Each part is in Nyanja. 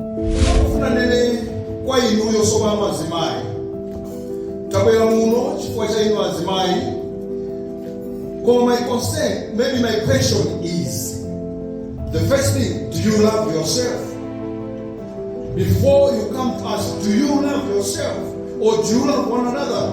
Ndikufuna nene kwa inuyo sopano azimai tabwera muno chifukwa cha inu azimai koma my concern maybe my question is the first thing do you love yourself before you come to us do you love yourself or do you love one another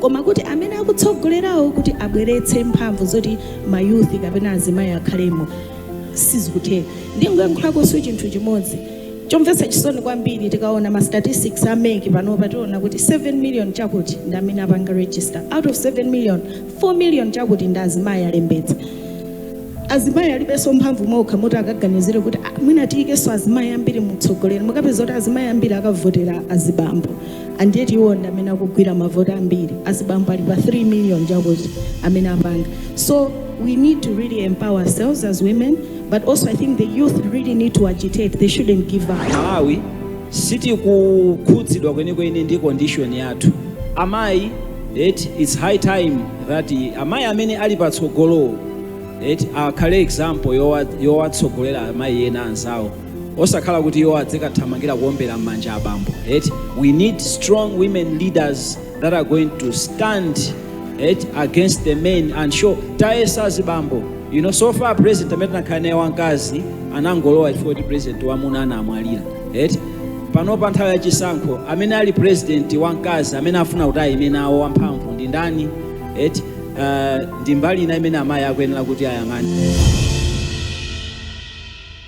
koma kuti amene akutsogolerawo kuti abweretse mphamvu zoti mayuthi kapena azimayi akhalemo sizikutheka ndingoyankhulakonso chinthu chimodzi chomvetsa chisoni kwambiri tikaona ma statistics a MEC panopa tiona kuti 7 million chakuti ndi amene apanga register out of 7 million 4 million chakuti ndi azimayi alembetsa azimayi alibenso mphamvu mwa okha moti akaganizire kuti "Ah, mwina tiyikenso azimayi ambiri mu utsogoleri mukapeza kuti azimayi ambiri akavotera azibambo and yet iwo ndi amene akugwira mavoti ambiri azibambo ali pa 3 million chakuti amene apanga so we need to really empower ourselves as women but also i think the youth really need to agitate they shouldn't give up amayi sitikukhudzidwa kwenikweni ndi condition yathu amayi eti it's high time that amayi amene ali patsogolowo eti akhale example yowa- yowatsogolera amayi ena anzawo osakhala kuti iwo adzikathamangira kuombera mmanja abambo eti we need strong women leaders that are going to stand eti against the men and show tayesa azibambo you know so far president amene tinakhala naye wamkazi anangolowa chifukwa kuti president wamuna anamwalira eti panopa nthawi ya chisankho amene ali president wamkazi amene afuna kuti ayime nawo wamphamvu ndi ndani eti uh, ndi mbali ina imene amayi akuyenera kuti ayang'ane